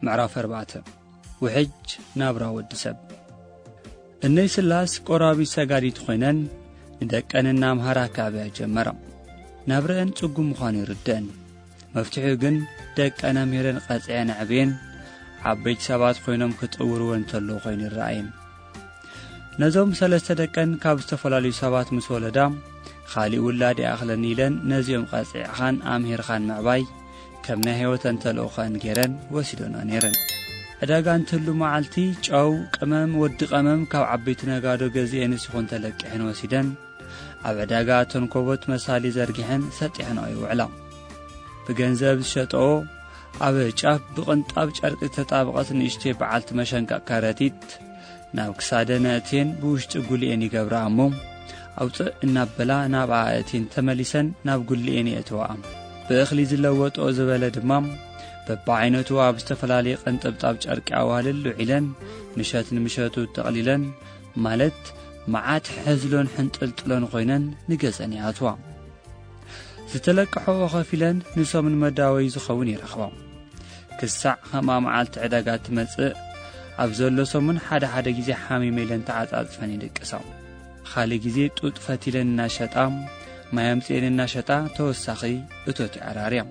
ምዕራፍ 4 ውሕጅ ናብራ ወዲ ሰብ እነይ ስላስ ቆራቢ ሰጋዲት ዀይነን ንደቀን እናምሃራ ክኣብያ ጀመራ ናብረአን ጽጉም ምዃኑ ይርድአን መፍትሒኡ ግን ደቀን ኣምሂረን ቐጺዐን ኣዕብየን ዓበይቲ ሰባት ኮይኖም ክጥውርወ እንተለዉ ኮይኑ ይረኣየን ነዞም ሰለስተ ደቀን ካብ ዝተፈላለዩ ሰባት ምስ ወለዳ ኻሊእ ውላድ ይኣኽለኒ ኢለን ነዚኦም ቐጺዕኻን ኣምሂርኻን ምዕባይ ከም ናይ ህይወተን ተልእኾን ገይረን ወሲዶና ነይረን ዕዳጋ እንትህሉ መዓልቲ ጨው ቅመም ወዲ ቐመም ካብ ዓበይቲ ነጋዶ ገዚኤንስ ይኹን ተለቂሐን ወሲደን ኣብ ዕዳጋ ተንኮቦት መሳሊ ዘርጊሐን ሰጢሐንኦ ይውዕላ ብገንዘብ ዝሸጠኦ ኣብ ጫፍ ብቕንጣብ ጨርቂ ዝተጣብቐት ንእሽተይ በዓልቲ መሸንቀቕ ከረጢት ናብ ክሳደን ኣእትየን ብውሽጢ ጉልኤን ይገብራ እሞ ኣውፅእ እናበላ ናብ ኣእቲን ተመሊሰን ናብ ጉልኤን የእትዋ ብእኽሊ ዝለወጦ ዝበለ ድማ በብዓይነቱ ኣብ ዝተፈላለየ ቀንጠብጣብ ጨርቂ ኣዋህልል ውዒለን ምሸት ንምሸቱ ተቕሊለን ማለት መዓት ሕዝሎን ሕንጥልጥሎን ኾይነን ንገጸን ይኣትዋ ዝተለቅሐኦ ኸፊለን ንሶም ንመዳወይ ዝኸውን ይረኽቦ ክሳዕ ኸምኣ መዓልቲ ዕዳጋ እትመጽእ ኣብ ዘሎ ሰሙን ሓደ ሓደ ግዜ ሓሚመ ኢለን ተዓጻጽፈን ይድቅሳው ኻልእ ግዜ ጡጥ ፈቲለን እናሸጣ ማይ ኣምፅኤን እናሸጣ ተወሳኺ እቶት ይዓራርያ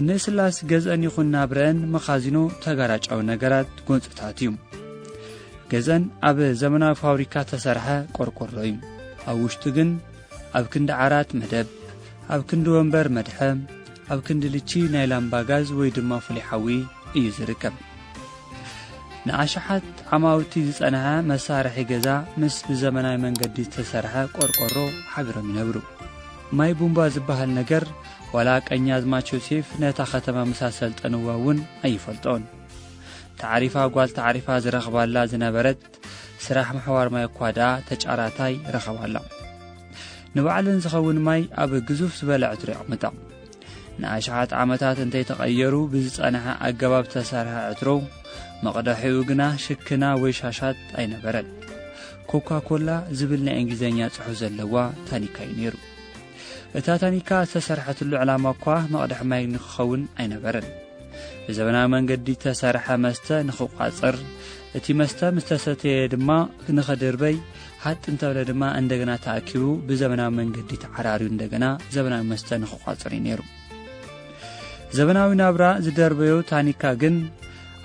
ንስላስ ገዝአን ይኹን ናብረአን መኻዚኖ ተጋራጫዊ ነገራት ጎንፅታት እዩ ገዝአን ኣብ ዘመናዊ ፋብሪካ ተሰርሐ ቆርቆሮ እዩ ኣብ ውሽጡ ግን ኣብ ክንዲ ዓራት መደብ ኣብ ክንዲ ወንበር መድሐ ኣብ ክንዲ ልቺ ናይ ላምባ ጋዝ ወይ ድማ ፍሉይ ሓዊ እዩ ዝርከብ ንኣሽሓት ዓማውቲ ዝጸንሐ መሳርሒ ገዛ ምስ ብዘመናዊ መንገዲ ዝተሰርሐ ቆርቆሮ ሓቢሮም ይነብሩ ማይ ቡምባ ዝበሃል ነገር ዋላ ቀኛዝማች ዮሴፍ ነታ ከተማ ምስ ኣሰልጠንዋ እውን ኣይፈልጦን። ተዓሪፋ ጓል ተዓሪፋ ዝረኽባላ ዝነበረት ስራሕ ምሕዋር ማይ እኳ ደኣ ተጫራታይ ረኸባላ። ንባዕለን ዝኸውን ማይ ኣብ ግዙፍ ዝበለ ዕትሮ የቕምጣ። ንኣሽሓት ዓመታት እንተይተቐየሩ ብዝጸንሐ ኣገባብ ዝተሰርሐ ዕትሮ መቕደሒኡ ግና ሽክና ወይ ሻሻት ኣይነበረን። ኮካ ኮላ ዝብል ናይ እንግሊዝኛ ጽሑፍ ዘለዋ ታኒካ እዩ ነይሩ። እታ ታኒካ ዝተሰርሐትሉ ዕላማ እኳ መቕድሒ ማይ ንክኸውን ኣይነበረን ብዘበናዊ መንገዲ እተሰርሐ መስተ ንክቋፅር እቲ መስተ ምስ ተሰተየ ድማ ንኽድርበይ ሃጥ እንተበለ ድማ እንደገና ተኣኪቡ ብዘበናዊ መንገዲ ተዓራርዩ እንደገና ዘበናዊ መስተ ንክቋፅር እዩ ነይሩ ዘበናዊ ናብራ ዝደርበዮ ታኒካ ግን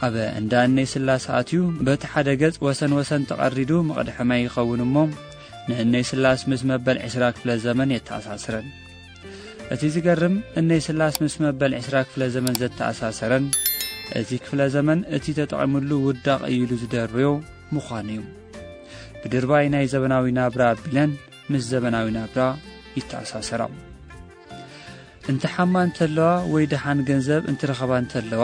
ኣብ እንዳ እነይ ስላሰ ኣትዩ በቲ ሓደ ገጽ ወሰን ወሰን ተቐሪዱ መቕድሐማይ ይኸውን እሞ ንእነይ ስላስ ምስ መበል ዕስራ ክፍለ ዘመን የተኣሳስረን እቲ ዝገርም እነይ ስላስ ምስ መበል ዕስራ ክፍለ ዘመን ዘተኣሳሰረን እቲ ክፍለ ዘመን እቲ ተጠቒሙሉ ውዳቕ እዩሉ ዝደርብዮ ምዃኑ እዩ ብድርባይ ናይ ዘበናዊ ናብራ ኣቢለን ምስ ዘበናዊ ናብራ ይተኣሳሰራ እንተ ሓማ እንተለዋ ወይ ደሓን ገንዘብ እንትረኸባ እንተለዋ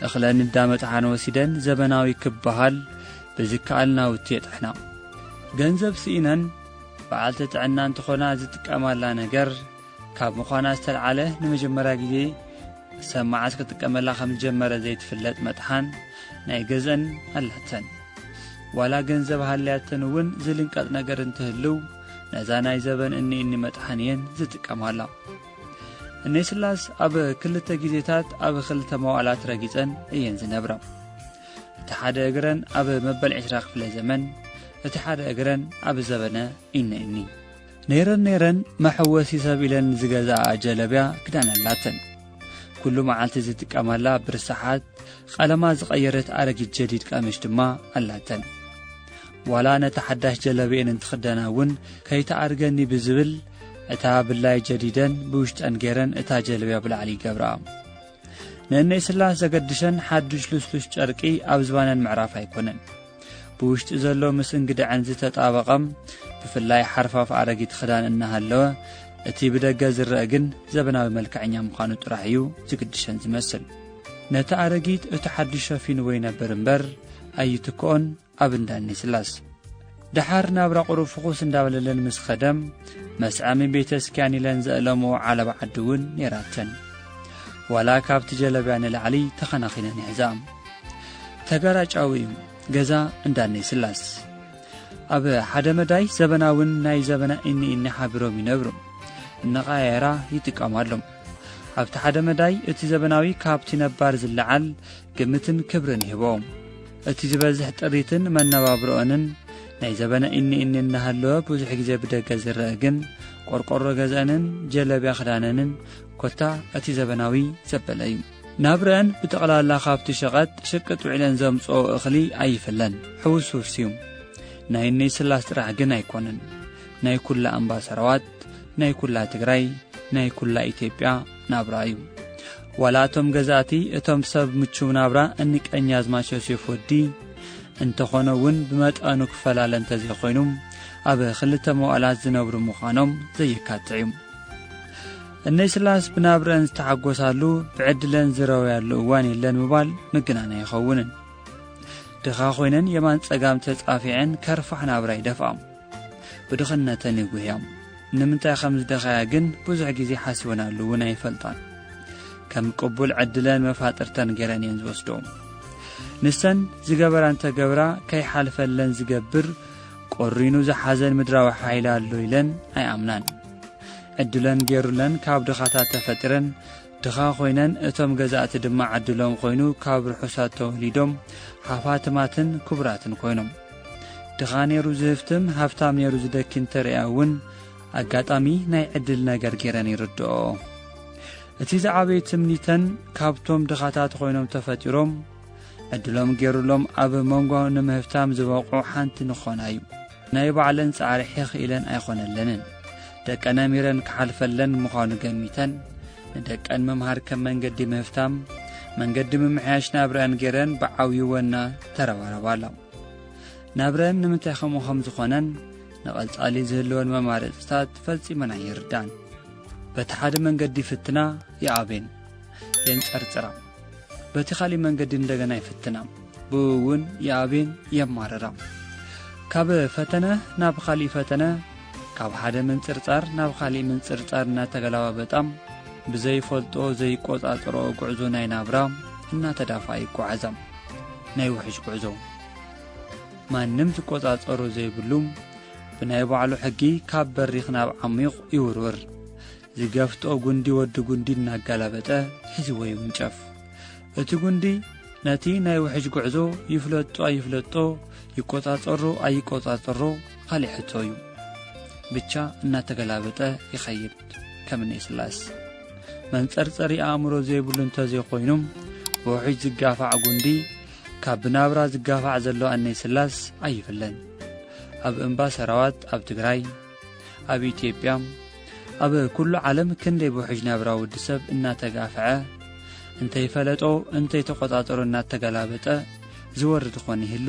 እኽለ ንዳመጥሓን ወሲደን ዘበናዊ ክበሃል ብዝከኣል ናውቲ የጥሕና ገንዘብ ስኢነን በዓልቲ ጥዕና እንትኾና ዝጥቀማላ ነገር ካብ ምዃና ዝተልዓለ ንመጀመርያ ግዜ ሰብ መዓስ ክጥቀመላ ከም ዝጀመረ ዘይትፍለጥ መጥሓን ናይ ገዘን ኣላተን ዋላ ገንዘብ ሃልያተን እውን ዝልንቀጥ ነገር እንትህልው ነዛ ናይ ዘበን እኒ እኒ መጥሓን እየን ዝጥቀማላ እነይ ስላስ ኣብ ክልተ ግዜታት ኣብ ክልተ መዋእላት ረጊፀን እየን ዝነብረ እቲ ሓደ እግረን ኣብ መበል ዕስራ ክፍለ ዘመን እቲ ሓደ እግረን ኣብ ዘበነ ኢነ እኒ ነይረን ነይረን መሐወሲ ሰብ ኢለን ዝገዝኣኣ ጀለብያ ክዳን ኣላተን። ኩሉ መዓልቲ ዝጥቀማላ ብርሰሓት ቐለማ ዝቐየረት ኣረጊት ጀዲድ ቀምሽ ድማ ኣላተን። ዋላ ነታ ሓዳሽ ጀለብየን እንትኽደና እውን ከይትኣርገኒ ብዝብል እታ ብላይ ጀዲደን ብውሽጠን ገይረን እታ ጀለብያ ብላዕሊ ይገብራ። ንእነይ ስላስ ዘገድሸን ሓዱሽ ልስሉስ ጨርቂ ኣብ ዝባነን ምዕራፍ ኣይኮነን። ብውሽጢ ዘሎ ምስ እንግድዐን ዝተጣበቐ ብፍላይ ሓርፋፍ ኣረጊት ኽዳን እናሃለወ እቲ ብደገ ዝረአ ግን ዘበናዊ መልክዐኛ ምዃኑ ጥራሕ እዩ ዝግድሸን ዝመስል ነቲ ኣረጊት እቲ ሓድሽ ሸፊንዎ ይነብር እምበር ኣይትክኦን ኣብ እንዳኒ ስላስ ደሓር ናብራ ቁሩብ ፍኹስ እንዳበለለን ምስ ኸደም መስዐሚ ቤተ ስኪያን ኢለን ዘእለሞ ዓለባ ዓዲ እውን ነይራተን ዋላ ካብቲ ጀለብያ ንላዕሊ ተኸናኺነን ይሕዛ ተጋራጫዊ ገዛ እንዳነይ ስላስ ኣብ ሓደ መዳይ ዘበናውን ናይ ዘበና እኒ እኒ ሓቢሮም ይነብሩ እነቓየራ ይጥቀማሎም ኣብቲ ሓደ መዳይ እቲ ዘበናዊ ካብቲ ነባር ዝለዓል ግምትን ክብርን ይህቦም እቲ ዝበዝሕ ጥሪትን መነባብሮኦንን ናይ ዘበነ እኒ እኒ እናሃለወ ብዙሕ ግዜ ብደገ ዝረአ ግን ቆርቆሮ ገዝአንን ጀለብያ ክዳነንን ኮታ እቲ ዘበናዊ ዘበለ እዩ ናብረኣን ብጠቕላላ ካብቲ ሸቐጥ ሸቀጥ ውዒለን ዘምጽኦ እኽሊ ኣይፍለን፣ ሕውስውስዩ። ናይ እነይ ስላስ ጥራሕ ግን ኣይኮነን፣ ናይ ኩላ ኣምባሰራዋት፣ ናይ ኩላ ትግራይ፣ ናይ ኩላ ኢትዮጵያ ናብራ እዩ። ዋላ እቶም ገዛእቲ እቶም ሰብ ምቹው ናብራ እንቀኛዝማች ዮሴፍ ወዲ እንተኾነ እውን ብመጠኑ ክፈላለ እንተዘይኮይኑ ኣብ ክልተ መዋእላት ዝነብሩ ምዃኖም ዘየካትዕ እዩ እነይ ስላስ ብናብረኣን ዝተሓጎሳሉ ብዕድለን ዝረወያሉ እዋን የለን ምባል ምግናን ኣይኸውንን። ድኻ ኮይነን የማን ጸጋም ተጻፊዐን ከርፋሕ ናብራ ይደፍኣም ብድኽነተን ይጉህያም ንምንታይ ከም ዝደኸያ ግን ብዙሕ ግዜ ሓሲበናሉ እውን ኣይፈልጣን። ከም ቅቡል ዕድለን መፋጥርተን ገይረን እየን ዝወስዶ ንሰን ዝገበራ እንተገብራ ከይሓልፈለን ዝገብር ቆሪኑ ዝሓዘን ምድራዊ ሓይሊ ኣሎ ኢለን ኣይኣምናን ዕድለን ጌሩለን ካብ ድኻታት ተፈጢረን ድኻ ኮይነን እቶም ገዛእቲ ድማ ዕድሎም ኮይኑ ካብ ርሑሳት ተወሊዶም ሃፋትማትን ክቡራትን ኮይኖም ድኻ ኔሩ ዝህፍትም ሃፍታም ኔሩ ዝደኪ እንተርእያ እውን ኣጋጣሚ ናይ ዕድል ነገር ጌረን ይርድኦ እቲ ዝዓበየ ትምኒተን ካብቶም ድኻታት ኮይኖም ተፈጢሮም ዕድሎም ጌሩሎም ኣብ መንጎ ንምህፍታም ዝበቑዑ ሓንቲ ንኾና እዩ ናይ ባዕለን ጻዕሪ ሒኽ ኢለን ኣይኾነለንን። ደቀነ ሚረን ክሓልፈለን ምዃኑ ገሚተን፣ ንደቀን ምምሃር ከም መንገዲ ምህፍታም፣ መንገዲ ምምሕያሽ ናብረአን ገይረን ብዓብዩ ወና ተረባረባላ። ናብረን ንምንታይ ከምኡ ከም ዝኾነን ንቐጻሊ ዝህልወን መማረጽታት ፈጺመን ኣይርዳን። በቲ ሓደ መንገዲ ይፍትና፣ ይኣብን፣ የንጸርጽራ። በቲ ኻሊእ መንገዲ እንደገና ይፍትና ብእውን የኣብየን የማርራ ካብ ፈተነ ናብ ኻሊእ ፈተነ ካብ ሓደ ምንጽርጻር ናብ ኻሊእ ምንጽርጻር እናተገላባበጣ ብዘይፈልጦ ዘይቈጻጽሮ ጕዕዞ ናይ ናብራ እናተዳፋ ይጓዓዛ ናይ ውሕጅ ጕዕዞ ማንም ዝቈጻጸሮ ዘይብሉ ብናይ ባዕሉ ሕጊ ካብ በሪኽ ናብ ዓሚቕ ይውርውር ዝገፍጦ ጕንዲ ወዲ ጕንዲ እናጋላበጠ ሒዝዎ ይውንጨፍ። እቲ ጕንዲ ነቲ ናይ ውሕጅ ጕዕዞ ይፍለጦ ኣይፍለጦ፣ ይቈጻጸሮ ኣይቈጻጸሮ ኻሊእ ሕቶ እዩ። ብቻ እናተገላበጠ ይኸይድ ከም ንኤስላስ። መንጸርጸሪ ኣእምሮ ዘይብሉ እንተ ዘይኮይኑ ብውሕጅ ዝጋፋዕ ጕንዲ ካብ ብናብራ ዝጋፋዕ ዘሎ ኣኔስላስ ኣይፍለን። ኣብ እምባ ሰራዋት ኣብ ትግራይ ኣብ ኢትዮጵያ ኣብ ኵሉ ዓለም ክንደይ ብውሕጅ ናብራ ውዲ ሰብ እናተጋፍዐ እንተይፈለጦ እንተይተቖጻጠሮ እናተገላበጠ ዝወርድ ኾን ይህሉ